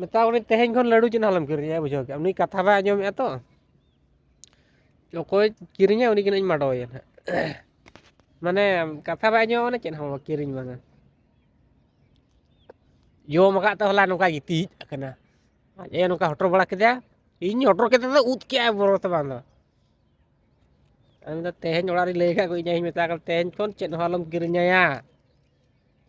ᱢᱮᱛᱟ ᱠᱚ ᱠᱟᱹᱱᱟᱹᱧ ᱛᱮᱦᱮᱧ ᱠᱷᱚᱱ ᱞᱟᱹᱰᱩ ᱪᱮᱫ ᱦᱚᱸ ᱟᱞᱚᱢ ᱠᱤᱨᱤᱧᱟ ᱵᱩᱡᱷᱟᱹᱣ ᱠᱮᱜ ᱟᱢ ᱩᱱᱤ ᱠᱟᱛᱷᱟ ᱵᱟᱭ ᱟᱸᱡᱚᱢᱮᱜᱼᱟ ᱛᱚ ᱚᱠᱚᱭ ᱠᱤᱨᱤᱧᱟ ᱩᱱᱤ ᱜᱮ ᱦᱟᱸᱜ ᱤᱧ ᱢᱟᱰᱚᱭᱟ ᱦᱟᱸᱜ ᱢᱟᱱᱮ ᱠᱟᱛᱷᱟ ᱵᱟᱭ ᱟᱸᱡᱚᱢᱟ ᱢᱟᱱᱮ ᱪᱮᱫ ᱦᱚᱸ ᱵᱟᱝ ᱠᱤᱨᱤᱧ ᱵᱟᱝᱟ ᱡᱚᱢ ᱟᱠᱟᱫ ᱛᱮ ᱦᱚᱞᱟ ᱱᱚᱝᱠᱟ ᱜᱤᱛᱤᱡ ᱟᱠᱟᱱᱟ ᱟᱡ ᱮ ᱱᱚᱝᱠᱟ ᱦᱚᱴᱚᱨ ᱵᱟᱲᱟ ᱠᱮᱫᱟ ᱤᱧ ᱦᱚᱴᱚᱨ ᱠᱮᱫᱟ ᱫᱚ ᱩᱫ ᱠᱮᱜᱼᱟᱭ ᱵᱚᱨᱚ ᱛᱮ ᱵᱟᱝ ᱫᱚ ᱟᱫᱚ ᱢᱮᱱᱫᱟ ᱛᱮᱦᱮᱧ ᱚᱲᱟᱜ ᱨᱤᱧ ᱞᱟᱹᱭ ᱟᱠᱟᱫ ᱠᱚᱣᱟ ᱤᱧ ᱟᱭᱳᱧ ᱢᱮᱛᱟ ᱠᱟᱫᱮ ᱛᱮᱦᱮᱧ ᱠᱷᱚᱱ ᱪᱮᱫ ᱦᱚᱸ ᱟᱞᱚᱢ ᱠᱤᱨᱤᱧᱟᱭᱟ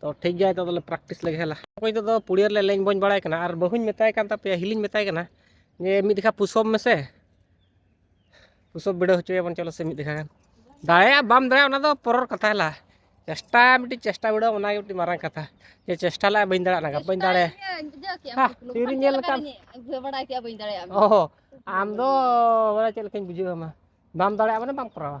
ᱛᱚ ᱴᱷᱤᱠ ᱜᱮᱭᱟ ᱱᱤᱛᱚᱜ ᱫᱚᱞᱮ ᱯᱨᱮᱠᱴᱤᱥ ᱞᱮᱜᱮ ᱦᱮᱞᱟ ᱚᱠᱚᱭ ᱱᱤᱛᱚᱜ ᱫᱚ ᱯᱩᱲᱤᱭᱟᱹ ᱨᱮᱞᱮ ᱞᱮᱧ ᱵᱚᱧ ᱵᱟᱲᱟᱭ ᱠᱟᱱᱟ ᱟᱨ ᱵᱟᱹᱦᱩᱧ ᱢᱮᱛᱟᱭ ᱠᱟᱱ ᱛᱟᱯᱮᱭᱟ ᱦᱤᱞᱤᱧ ᱢᱮᱛᱟᱭ ᱠᱟᱱᱟ ᱡᱮ ᱢᱤᱫ ᱫᱮᱠᱷᱟ ᱯᱩᱥᱚᱯ ᱢᱮᱥᱮ ᱯᱩᱥᱚᱯ ᱵᱤᱰᱟᱹᱣ ᱦᱚᱪᱚᱭᱟᱵᱚᱱ ᱪᱚᱞᱚ ᱥᱮ ᱢᱤᱫ ᱫᱮᱠᱷᱟ ᱜᱟᱱ ᱫᱟᱲᱮᱭᱟᱜ ᱵᱟᱢ ᱫᱟᱲᱮᱭᱟᱜ ᱚᱱᱟ ᱫᱚ ᱯᱚᱨᱚᱨ ᱠᱟᱛᱷᱟ ᱦᱮᱞᱟ ᱪᱮᱥᱴᱟ ᱢᱤᱫᱴᱤᱡ ᱪᱮᱥᱴᱟ ᱵᱤᱰᱟᱹᱣ ᱚᱱᱟᱜᱮ ᱢᱤᱫᱴᱤᱡ ᱢᱟᱨᱟᱝ ᱠᱟᱛᱷᱟ ᱡᱮ ᱪᱮᱥᱴᱟ ᱞᱟᱜ ᱵᱟᱹᱧ ᱫᱟᱲᱮᱭᱟᱜ ᱱᱟᱜᱟ ᱵᱟᱹᱧ ᱫᱟᱲᱮ ᱛᱤᱨᱤᱧ ᱧᱮᱞ ᱞᱮᱠᱷᱟᱱ ᱵᱟᱲᱟᱭ ᱠᱮᱜᱼᱟ ᱵᱟᱹᱧ ᱫᱟᱲᱮᱭᱟᱜᱼᱟ ᱚ ᱟᱢ ᱫᱚ ᱵᱟᱲᱟᱭ ᱪᱮᱫ ᱞᱮᱠᱟᱧ ᱵᱩᱡᱷᱟᱹᱣ ᱟᱢᱟ ᱵᱟᱢ ᱫᱟᱲᱮᱭᱟᱜᱼᱟ ᱢᱟᱱᱮ ᱵᱟᱢ ᱠᱚᱨᱟᱣᱟ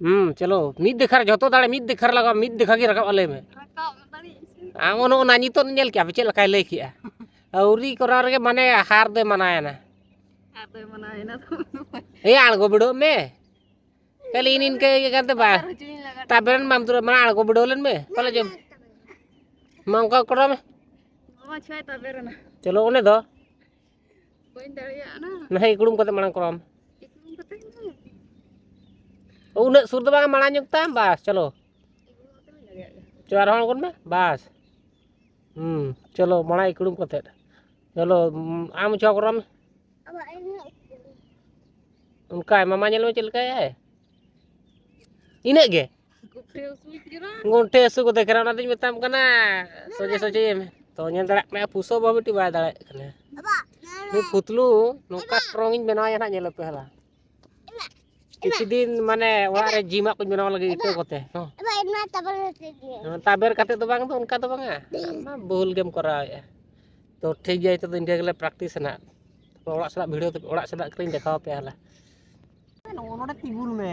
ᱦᱩᱸ ᱪᱚᱞᱚ ᱢᱤᱫ ᱫᱮᱠᱷᱟ ᱨᱮ ᱡᱚᱛᱚ ᱫᱟᱲᱮ ᱢᱤᱫ ᱫᱮᱠᱷᱟ ᱨᱮ ᱞᱟᱜᱟᱣ ᱢᱤᱫ ᱫᱮᱠᱷᱟ ᱜᱮ ᱨᱟᱠᱟᱵ ᱞᱟᱹᱭ ᱢᱮ ᱟᱢ ᱚᱱ ᱚᱱᱟ ᱱᱤᱛᱚᱜ ᱧᱮᱞ ᱠᱮᱜᱼᱟ ᱯᱮ ᱪᱮᱫ ᱞᱮᱠᱟᱭ ᱞᱟᱹᱭ ᱠᱮᱜᱼᱟ ᱟᱹᱣᱨᱤ ᱠᱚᱨᱟᱣ ᱨᱮᱜᱮ ᱢᱟᱱᱮ ᱦᱟᱨ ᱫᱚᱭ ᱢᱟᱱᱟᱣᱮᱱᱟ ᱮ ᱟᱬᱜᱚ ᱵᱤᱰᱟᱹᱣ ᱢᱮ ᱠᱷᱟᱹᱞᱤ ᱤᱱ ᱤᱱᱠᱟᱹ ᱤᱭᱟᱹ ᱠᱟᱱᱛᱮ ᱵᱟ ᱛᱟᱵᱮᱱ ᱢᱟᱢ ᱫᱩᱨ ᱢᱟ ᱟᱬᱜᱚ ᱵᱤᱰᱟᱹᱣ ᱞᱮᱱ ᱢᱮ ᱛᱟᱦᱞᱮ ᱡᱚᱢ ᱢᱟ ᱚᱱᱠᱟ ᱠᱚᱨᱟᱣ ᱢᱮ ᱪᱚᱞᱚ ᱚᱱᱮ ᱫᱚ ᱵᱟᱹᱧ ᱫᱟᱲᱮᱭᱟᱜᱼᱟ ᱱᱟ ᱱᱟᱦᱮ ᱤᱠᱲᱩᱢ ᱠᱟᱛᱮ ᱢᱟᱲᱟᱝ ᱠᱚᱨᱟᱣᱟᱢ ᱤᱠᱲᱩᱢ ᱠᱟᱛᱮ ᱩᱱᱟᱹᱜ ᱥᱩᱨ ᱫᱚ ᱵᱟᱝ ᱢᱟᱲᱟᱝ ᱧᱚᱜ ᱛᱟᱢ ᱵᱟᱥ ᱪᱚᱞᱚ ᱪᱚ ᱟᱨ ᱦᱚᱸ ᱟᱬᱜᱚᱱ ᱢᱮ ᱵᱟᱥ ᱦᱩᱸ ᱪᱚᱞᱚ ᱢᱟᱲᱟᱝ ᱤᱠᱲᱩᱢ ᱠᱟᱛᱮ ᱪᱚᱞᱚ ᱟᱢ ᱪᱚ ᱠᱚᱨᱟᱣᱟᱢ ᱚᱱᱠᱟ ᱢᱟᱢᱟ ᱧᱮᱞ ᱢᱮ ᱪᱮᱫ ᱞᱮᱠᱟᱭᱟᱭ ᱤᱱᱟᱹᱜ ᱜᱮ ᱜᱚᱱᱴᱷᱮ ᱦᱟᱹᱥᱩ ᱠᱚ ᱫᱮᱠᱷᱨᱟ ᱚᱱᱟᱛᱤᱧ ᱢᱮᱛᱟᱢ ᱠᱟᱱᱟ ᱥᱚᱡᱷᱮ ᱥᱚᱡᱷᱮ ᱮᱢ ᱛᱚ ᱧᱮᱞ ᱫᱟᱲᱮᱭᱟᱜ ᱠᱟᱱᱟ ᱯᱩᱥᱟᱹ ᱵᱟᱹᱵᱩ ᱢᱤᱫᱴᱤᱡ ᱵᱟᱭ ᱫᱟᱲᱮᱭᱟᱜ ᱠᱟᱱᱟ ᱱᱩᱭ ᱯᱩᱛᱞᱩ ᱱᱚᱝᱠᱟ ᱥᱴᱨᱚᱝ ᱤᱧ ᱵᱮᱱᱟᱣᱮᱭᱟ ᱱᱟᱜ ᱧᱮᱞ ᱯᱮ ᱦᱟᱞᱟ ᱠᱤᱪᱷᱩ ᱫᱤᱱ ᱢᱟᱱᱮ ᱚᱲᱟᱜ ᱨᱮ ᱡᱤᱢᱟᱜ ᱠᱚᱧ ᱵᱮᱱᱟᱣ ᱞᱟᱹᱜᱤᱫ ᱤᱴᱟᱹ ᱠᱚᱛᱮ ᱛᱟᱵᱮᱨ ᱠᱟᱛᱮ ᱫᱚ ᱵᱟᱝ ᱫᱚ ᱚᱱᱠᱟ ᱫᱚ ᱵᱟᱝᱟ ᱵᱷᱩᱞ ᱜᱮᱢ ᱠᱚᱨᱟᱣᱮᱫᱼᱟ ᱛᱚ ᱴᱷᱤᱠ ᱜᱮᱭᱟ ᱱᱤᱛᱚᱜ ᱫᱚ ᱤᱱᱠᱟᱹ ᱜᱮᱞᱮ ᱯᱨᱮᱠᱴᱤᱥ ᱱᱟᱜ ᱚᱲᱟᱜ ᱥᱮᱱᱟᱜ ᱵᱷᱤᱰᱤᱭᱳ ᱚᱲᱟᱜ ᱥᱮᱱᱟᱜ ᱠᱚᱞᱤᱧ ᱫᱮᱠᱷᱟᱣ ᱟᱯᱮᱭᱟ ᱦᱟᱞᱟ ᱱᱚᱰᱮ ᱛᱤᱸᱜᱩᱱ ᱢᱮ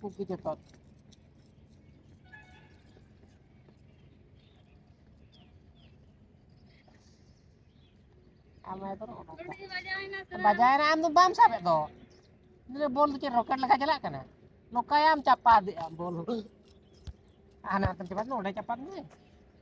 ᱠᱩᱠᱤ ᱡᱚᱛᱚᱛ ᱵᱟᱡᱟᱭᱮᱱᱟ ᱟᱢ ᱫᱚ ᱵᱟᱢ ᱥᱟᱵᱮᱫ ᱫᱚ ᱵᱚᱞ ᱫᱚ ᱪᱮᱫ ᱨᱚᱠᱮᱴ ᱞᱮᱠᱟ ᱪᱟᱞᱟᱜ ᱠᱟᱱᱟ ᱱᱚᱝᱠᱟᱭᱟᱢ ᱪᱟᱯᱟᱫᱮᱜᱼᱟᱢ ᱵᱚᱞ ᱦᱟᱱᱟ ᱦᱟᱛᱮᱢ ᱪᱟᱯᱟᱫ ᱱᱚᱰᱮ ᱪᱟᱯᱟᱫ ᱢᱮ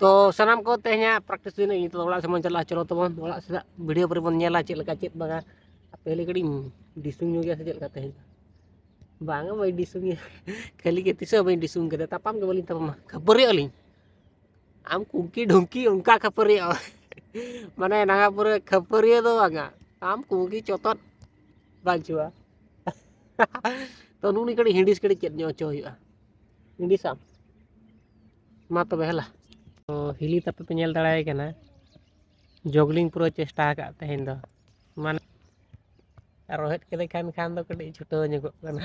ᱛᱚ ᱥᱟᱱᱟᱢ ᱠᱚ ᱛᱮᱦᱮᱧᱟᱜ ᱯᱨᱮᱠᱴᱤᱥ ᱫᱤᱱ ᱤᱧ ᱛᱚ ᱚᱲᱟᱜ ᱥᱮᱫ ᱵᱚᱱ ᱪᱟᱞᱟᱜᱼᱟ ᱪᱚᱞᱚ ᱛᱟᱵᱚᱱ ᱚᱲᱟᱜ ᱥᱮᱫ ᱵᱷᱤᱰᱤᱭᱳ ᱯᱚᱨᱮ ᱵᱚᱱ ᱧᱮᱞᱟ ᱪᱮᱫ ᱞᱮᱠᱟ ᱪᱮᱫ ᱵᱟᱝᱟ ᱯᱮᱦᱞᱮ ᱠᱟᱹᱴᱤᱡ ᱰᱤᱥᱩᱝ ᱧᱚᱜ ᱜᱮᱭᱟ ᱥᱮ ᱪᱮᱫ ᱞᱮᱠᱟ ᱛᱮᱦᱮᱧ ᱵᱟᱝᱟ ᱵᱟᱹᱧ ᱰᱤᱥᱩᱝ ᱜᱮᱭᱟ ᱠᱷᱟᱹᱞᱤ ᱜᱮ ᱛᱤᱥ ᱦᱚᱸ ᱵᱟᱹᱧ ᱰᱤᱥᱩᱝ ᱠᱟᱫᱟ ᱛᱟᱯᱟᱢ ᱜᱮ ᱵᱟᱹᱞᱤᱧ ᱛᱟᱯᱟᱢᱟ ᱠᱷᱟᱹᱯᱟᱹᱨᱤ ᱟᱹᱞᱤᱧ ᱟᱢ ᱠᱩᱝᱠᱤ ᱰᱷᱩᱝᱠᱤ ᱚᱱᱠᱟ ᱠᱷᱟᱹᱯᱟᱹᱨᱤ ᱢᱟᱱᱮ ᱱᱟᱜᱟ ᱯᱩᱨᱟᱹ ᱠᱷᱟᱹᱯᱟᱹᱨᱤᱭᱟᱹ ᱫᱚ ᱵᱟᱝᱟ ᱟᱢ ᱠᱩᱝᱠᱤ ᱪᱚᱛᱚᱫ ᱵᱟᱹᱪᱩᱜᱼᱟ ᱛᱚ ᱱᱩᱱᱤ ᱠᱟᱹᱴᱤᱡ ᱦᱤᱰᱤᱥ ᱠᱟᱹᱴᱤᱡ ᱪᱮᱫ ᱧᱚᱜ ᱦᱚᱪᱚ ᱦᱩᱭᱩᱜᱼᱟ ᱦᱤᱰᱤᱥᱟᱢ ᱢᱟ ᱛᱚᱵᱮ ᱦᱮᱞᱟ ᱛᱚ ᱦᱤᱞᱤ ᱛᱟᱯᱮ ᱯᱮ ᱧᱮᱞ ᱫᱟᱲᱮᱭᱟᱭ ᱠᱟᱱᱟ ᱡᱚᱜᱽᱞᱤᱝ ᱯᱩᱨᱟᱹ ᱪᱮᱥᱴᱟ ᱟᱠᱟᱫ ᱛᱮᱦᱮᱧ ᱫᱚ ᱢᱟᱱᱮ ᱨᱚᱦᱮᱫ ᱠᱮᱫᱮ ᱠᱷᱟᱱ ᱠᱷᱟᱱ ᱫᱚ ᱠᱟᱹᱴᱤᱡ ᱪᱷᱩᱴᱟᱹᱣ ᱧᱚᱜᱚᱜ ᱠᱟᱱᱟ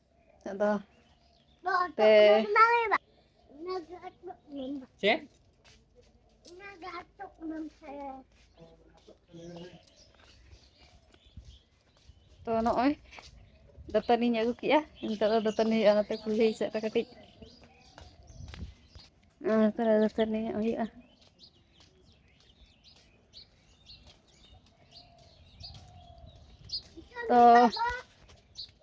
ᱟᱫᱚ ᱛᱮ ᱪᱮᱫ ᱛᱚ ᱱᱚᱜᱼᱚᱭ ᱫᱟᱹᱛᱟᱹᱱᱤᱧ ᱟᱹᱜᱩ ᱠᱮᱜᱼᱟ ᱱᱤᱛᱚᱜ ᱫᱚ ᱫᱟᱹᱛᱟᱹᱱᱤ ᱦᱩᱭᱩᱜᱼᱟ ᱚᱱᱟᱛᱮ ᱠᱩᱞᱦᱤ ᱥᱮᱫ ᱨᱮ ᱠᱟᱹᱴᱤᱡ ᱚᱱᱟᱛᱮ ᱫᱟᱹᱛᱟᱹᱱᱤᱭᱚᱜ ᱦᱩᱭᱩᱜᱼᱟ ᱛᱚ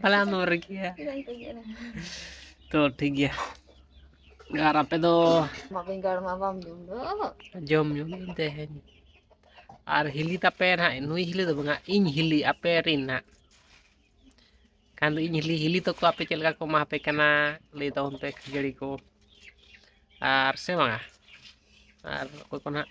ᱯᱟᱞᱮ ᱟᱢ ᱫᱚᱢ ᱨᱟᱹᱜᱤᱜᱼᱟ ᱛᱚ ᱴᱷᱤᱠ ᱜᱮᱭᱟ ᱟᱨ ᱟᱯᱮ ᱫᱚ ᱵᱮᱸᱜᱟᱲ ᱢᱟ ᱵᱟᱢ ᱡᱚᱢ ᱫᱚ ᱡᱚᱢ ᱡᱚᱢ ᱛᱮᱦᱮᱧ ᱟᱨ ᱦᱤᱞᱤ ᱛᱟᱯᱮ ᱱᱟᱦᱟᱜ ᱱᱩᱭ ᱦᱤᱞᱤ ᱫᱚ ᱵᱟᱝᱟ ᱤᱧ ᱦᱤᱞᱤ ᱟᱯᱮ ᱨᱤᱱ ᱱᱟᱦᱟᱜ ᱠᱷᱟᱱ ᱫᱚ ᱤᱧ ᱦᱤᱞᱤ ᱦᱤᱞᱤ ᱛᱟᱠᱚ ᱟᱯᱮ ᱪᱮᱫ ᱞᱮᱠᱟ ᱠᱚ ᱮᱢᱟ ᱟᱯᱮ ᱠᱟᱱᱟ ᱞᱟᱹᱭ ᱛᱟᱵᱚᱱ ᱯᱮ ᱠᱷᱟᱹᱡᱟᱹᱲᱤ ᱠᱚ ᱟᱨ ᱥᱮ ᱵᱟᱝᱟ ᱟᱨ ᱚᱠᱚᱭ ᱠᱚ ᱱᱟᱦᱟᱜ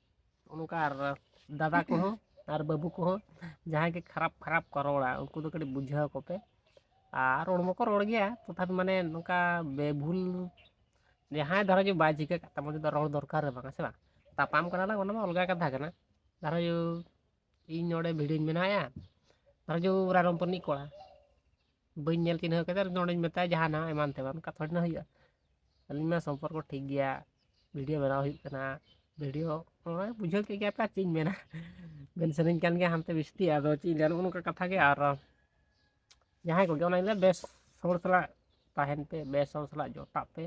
ᱚᱱᱠᱟ ᱟᱨ ᱫᱟᱫᱟ ᱠᱚᱦᱚᱸ ᱟᱨ ᱵᱟᱹᱵᱩ ᱠᱚᱦᱚᱸ ᱡᱟᱦᱟᱸᱭ ᱜᱮ ᱠᱷᱟᱨᱟᱯ ᱠᱷᱟᱨᱟᱯ ᱠᱚ ᱨᱚᱲᱟ ᱩᱱᱠᱩ ᱫᱚ ᱠᱟᱹᱴᱤᱡ ᱵᱩᱡᱷᱟᱹᱣ ᱟᱠᱚ ᱯᱮ ᱟᱨ ᱨᱚᱲ ᱢᱟᱠᱚ ᱨᱚᱲ ᱜᱮᱭᱟ ᱛᱚᱛᱷᱟᱯᱤ ᱢᱟᱱᱮ ᱱᱚᱝᱠᱟ ᱵᱮᱵᱷᱩᱞ ᱡᱟᱦᱟᱸᱭ ᱫᱷᱟᱨᱟ ᱜᱮ ᱵᱟᱭ ᱪᱤᱠᱟᱹ ᱠᱟᱜ ᱛᱟᱢᱟ ᱩᱱᱤ ᱫᱚ ᱨᱚᱲ ᱫᱚᱨᱠᱟᱨ ᱜᱮ ᱵᱟᱝ ᱦᱮᱸ ᱥᱮ ᱵᱟᱝ ᱛᱟᱯᱟᱢ ᱠᱟᱱᱟ ᱞᱟᱝ ᱚᱱᱟ ᱢᱟ ᱚᱞᱜᱟ ᱠᱟᱛᱷᱟ ᱠᱟᱱᱟ ᱫᱷᱟᱨᱟ ᱡᱚ ᱤᱧ ᱱᱚᱰᱮ ᱵᱷᱤᱰᱤᱭᱳᱧ ᱵᱮᱱᱟᱣᱮᱜᱼᱟ ᱫᱷᱟᱨᱟ ᱡᱚ ᱨᱟᱭᱨᱚᱝᱯᱩᱨ ᱨᱤᱱᱤᱡ ᱠᱚᱲᱟ ᱵᱟᱹᱧ ᱧᱮᱞ ᱪᱤᱱᱦᱟᱹᱣ ᱠᱟᱫᱟ ᱱᱚᱸᱰᱮᱧ ᱢᱮᱛᱟᱭᱟ ᱡᱟᱦᱟᱱᱟᱜ ᱮᱢᱟᱱ ᱛᱮᱢᱟᱱ ᱠᱟᱛᱷᱟ ᱛᱷᱚᱲᱮ ᱱᱟ ᱦᱩᱭᱩᱜᱼᱟ ᱟᱹᱞᱤᱧ ᱢᱟ ᱥᱚᱢᱯᱚᱨᱠᱚ ᱴᱷᱤᱠ ᱜᱮᱭᱟ ᱵᱷᱤᱰᱭᱳ ᱵᱮᱱᱟᱣ ᱦᱩᱭᱩᱜ ᱠᱟᱱᱟ ᱵᱷᱤᱰᱭᱳ ᱱᱚᱜᱼᱚᱭ ᱵᱩᱡᱷᱟᱹᱣ ᱠᱮᱫ ᱜᱮᱭᱟᱯᱮ ᱟᱨ ᱪᱮᱫ ᱤᱧ ᱢᱮᱱᱟ ᱢᱮᱱ ᱥᱟᱱᱟᱧ ᱠᱟᱱ ᱜᱮᱭᱟ ᱦᱟᱱᱛᱮ ᱵᱤᱥᱛᱤ ᱟᱫᱚ ᱪᱮᱫ ᱤᱧ ᱞᱟᱹᱭᱟ ᱱᱚᱜᱼᱚ ᱱᱚᱝᱠᱟ ᱠᱟᱛᱷᱟ ᱜᱮ ᱟᱨ ᱡᱟᱦᱟᱸᱭ ᱠᱚᱜᱮ ᱚᱱᱟᱧ ᱞᱟᱹᱭᱟ ᱵᱮᱥ ᱦᱚᱲ ᱥᱟᱞᱟᱜ ᱛᱟᱦᱮᱱ ᱯᱮ ᱵᱮᱥ ᱦᱚᱲ ᱥᱟᱞᱟᱜ ᱡᱚᱴᱟᱜ ᱯᱮ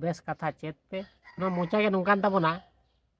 ᱵᱮᱥ ᱠᱟᱛᱷᱟ ᱪᱮᱫ ᱯᱮ ᱱᱚᱣᱟ ᱢᱚᱪᱟ ᱜᱮ ᱱᱚᱝᱠᱟᱱ ᱛᱟᱵᱚᱱᱟ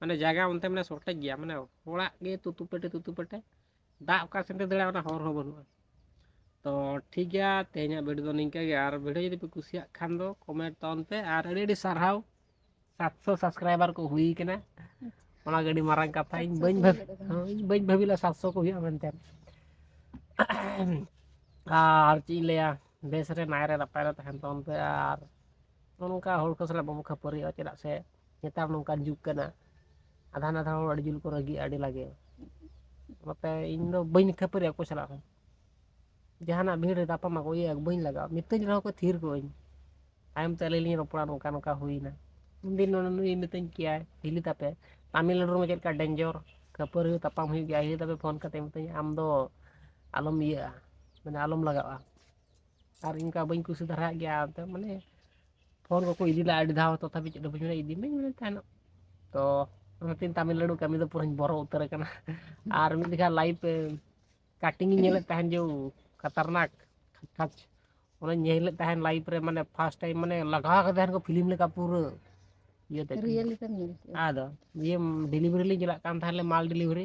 ᱢᱟᱱᱮ ᱡᱟᱭᱜᱟ ᱚᱱᱛᱮ ᱢᱟᱱᱮ ᱥᱚᱴᱮᱡ ᱜᱮᱭᱟ ᱢᱟᱱᱮ ᱦᱚᱲᱟᱜ ᱜᱮ ᱛᱩᱛᱩ ᱯᱮᱴᱮ ᱛᱩᱛᱩ ᱯᱮᱴᱮ ᱫᱟᱜ ᱚᱠᱟ ᱥᱮᱱ ᱛᱮ ᱫᱟᱹᱲᱟ ᱚᱱᱟ ᱦᱚᱨ ᱦᱚᱸ ᱵᱟᱹᱱᱩᱜᱼᱟ ᱛᱚ ᱴᱷᱤᱠ ᱜᱮᱭᱟ ᱛᱮᱦᱮᱧᱟᱜ ᱵᱷᱤᱰᱤᱭᱳ ᱫᱚ ᱱᱤᱝᱠᱟᱹ ᱜᱮ ᱟᱨ ᱵᱷᱤᱰᱤᱭᱳ ᱡᱩᱫᱤ ᱯᱮ ᱠᱩᱥᱤᱭᱟᱜ ᱠᱷᱟᱱ ᱫᱚ ᱠᱚᱢᱮᱱᱴ ᱛᱟᱵᱚᱱ ᱯᱮ ᱟᱨ ᱟᱹᱰᱤ ᱟᱹᱰᱤ ᱥᱟᱨᱦᱟᱣ ᱥᱟᱛᱥᱚ ᱥᱟᱵᱥᱠᱨᱟᱭᱵᱟᱨ ᱠᱚ ᱦᱩᱭ ᱠᱟᱱᱟ ᱚᱱᱟ ᱜᱮ ᱟᱹᱰᱤ ᱢᱟᱨᱟᱝ ᱠᱟᱛᱷᱟ ᱤᱧ ᱵᱟᱹᱧ ᱵᱷᱟᱹᱵᱤ ᱤᱧ ᱵᱟᱹᱧ ᱵᱷᱟᱹᱵᱤ ᱞᱮᱫᱟ ᱥᱟᱛᱥᱚ ᱠᱚ ᱦᱩᱭᱩᱜᱼᱟ ᱢᱮᱱᱛᱮ ᱟᱨ ᱪᱮᱫ ᱤᱧ ᱞᱟᱹᱭᱟ ᱵᱮᱥ ᱨᱮ ᱱᱟᱭ ᱨᱮ ᱱᱟᱯᱟᱭ ᱨᱮ ᱛᱟᱦᱮᱱ ᱛᱟᱵᱚᱱ ᱯᱮ ᱟᱨ ᱱᱚᱝᱠᱟ ᱦᱚᱲ ᱠᱚ ᱥᱟᱞᱟᱜ ᱵᱟᱵᱚ ᱠᱷᱟᱹᱯᱟᱹᱨᱤᱜᱼᱟ ᱪᱮᱫᱟᱜ ᱥᱮ ᱱᱮᱛᱟᱨ ᱱᱚᱝᱠᱟᱱ ᱡᱩᱜᱽ ᱠᱟᱱᱟ ᱟᱫᱷᱟ ᱱᱟᱫᱷᱟ ᱦᱚᱲ ᱟᱹᱰᱤ ᱡᱳᱨ ᱠᱚ ᱨᱟᱹᱜᱤᱜᱼᱟ ᱟᱹᱰᱤ ᱞᱟᱜᱮ ᱱᱚᱛᱮ ᱤᱧ ᱫᱚ ᱵᱟᱹᱧ ᱠᱷᱟᱹᱯᱟᱹᱨᱤ ᱚᱠᱚᱭ ᱥᱟᱞᱟᱜ ᱦᱚᱸ ᱡᱟᱦᱟᱱᱟᱜ ᱵᱷᱤᱲ ᱨᱮ ᱛᱟᱯᱟᱢ ᱟᱠᱚ ᱤᱭᱟᱹ ᱵᱟᱹᱧ ᱞᱟᱜᱟᱜᱼᱟ ᱢᱤᱛᱟᱹᱧ ᱨᱮᱦᱚᱸ ᱠᱚ ᱛᱷᱤᱨ ᱠᱚᱜ ᱟᱹᱧ ᱛᱟᱭᱚᱢ ᱛᱮ ᱟᱹᱞᱤᱧ ᱞᱤᱧ ᱨᱚᱯᱚᱲᱟ ᱱᱚᱝᱠᱟ ᱱᱚᱝᱠᱟ ᱦᱩᱭᱱᱟ ᱩᱱ ᱫᱤᱱ ᱱᱩᱭ ᱢᱤᱛᱟᱹᱧ ᱠᱮᱭᱟᱭ ᱦᱤᱞᱤ ᱛᱟᱯᱮ ᱛᱟᱹᱢᱤᱞᱱᱟᱹᱲᱩ ᱨᱮ ᱪᱮᱫ ᱞᱮᱠᱟ ᱰᱮᱧᱡᱚᱨ ᱠᱷᱟᱹᱯᱟᱹᱨᱤ ᱛᱟᱯᱟᱢ ᱦᱩᱭᱩᱜ ᱜᱮᱭᱟ ᱦᱤᱞᱤ ᱛᱟᱯᱮ ᱯᱷᱳᱱ ᱠᱟᱛᱮ ᱢᱤᱛᱟᱹᱧᱟ ᱟᱢ ᱫᱚ ᱟᱞᱚᱢ ᱤᱭᱟᱹᱜᱼᱟ ᱢᱟᱱᱮ ᱟᱞᱚᱢ ᱞᱟᱜᱟᱜᱼᱟ ᱟᱨ ᱤᱱᱠᱟ ᱵᱟᱹᱧ ᱠᱩᱥᱤ ᱫᱷᱟᱨᱟᱜ ᱜᱮᱭᱟ ᱟᱫᱚ ᱢᱟᱱᱮ ᱯᱷᱳᱱ ᱠᱚᱠᱚ ᱤᱫᱤ ᱞᱮᱫᱼᱟ ᱟᱹᱰᱤ ᱫᱷᱟᱣ ᱛᱚᱛᱷᱟᱯᱤ ᱪᱮᱫ ᱦᱚᱸ ᱵᱟᱹᱧ ᱢᱮᱱᱟ ᱤᱫᱤ ᱢᱟᱹᱧ ᱢᱮᱱ ᱛᱟᱦᱮᱱᱚᱜ ᱛᱚ ᱚᱱᱟᱛᱮᱧ ᱛᱟᱢᱤᱞᱱᱟᱹᱲᱩ ᱠᱟᱹᱢᱤ ᱫᱚ ᱯᱩᱨᱟᱹᱧ ᱵᱚᱨᱚ ᱩᱛᱟᱹᱨ ᱟᱠᱟᱱᱟ ᱟᱨ ᱢᱤᱫ ᱞᱮᱠᱟ ᱞᱟᱭᱤᱯᱷ ᱠᱟᱴᱤᱝ ᱤᱧ ᱧᱮᱞᱮᱫ ᱛᱟᱦᱮᱱ ᱡᱮ ᱠᱷᱟᱛᱟᱨᱱᱟᱠ ᱠᱷᱟᱪ ᱚᱱᱟᱧ ᱧᱮᱞ ᱞᱮᱫ ᱛᱟᱦᱮᱱ ᱞᱟᱭᱤᱯᱷ ᱨᱮ ᱢᱟᱱᱮ ᱯᱷᱟᱥᱴ ᱴᱟᱭᱤᱢ ᱢᱟᱱᱮ ᱞᱟᱜᱟᱣ ᱟᱠᱟᱫ ᱛᱟᱦᱮᱱ ᱠᱚ ᱯᱷᱤᱞᱤᱢ ᱞᱮᱠᱟ ᱯᱩᱨᱟᱹ ᱤᱭᱟᱹᱛᱮ ᱨᱤᱭᱮᱞ ᱞᱮᱠᱟᱢ ᱧᱮᱞ ᱠᱮᱜᱼᱟ ᱟᱫᱚ ᱤᱭᱟᱹ ᱰᱮᱞᱤᱵᱷᱟᱨᱤ ᱞᱤᱧ ᱪᱟᱞᱟᱜ ᱠᱟᱱ ᱛᱟᱦᱮᱱ ᱞᱮ ᱢᱟᱞ ᱰᱮᱞᱤᱵᱷᱟᱨᱤ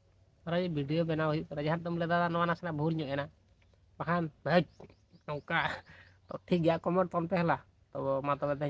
ᱟᱨᱚ ᱵᱷᱤᱰᱭᱳ ᱵᱮᱱᱟᱣ ᱦᱩᱭᱩᱜ ᱠᱟᱱᱟ ᱡᱟᱦᱟᱸ ᱫᱚᱢ ᱞᱟᱹᱭᱫᱟ ᱱᱚᱣᱟ ᱱᱟᱥᱮᱱᱟᱜ ᱵᱷᱩᱞ ᱧᱚᱜ ᱮᱱᱟ ᱵᱟᱠᱷᱟᱱ ᱵᱷᱟᱹᱡᱽ ᱱᱚᱝᱠᱟ ᱛᱚ ᱴᱷᱤᱠ ᱜᱮᱭᱟ ᱠᱚᱢᱮᱱᱴ ᱛᱟᱢ ᱛᱮ ᱦᱮᱞᱟ ᱛᱚ ᱢᱟ ᱛᱚᱵᱮ ᱛᱮᱦᱮᱧᱟᱜ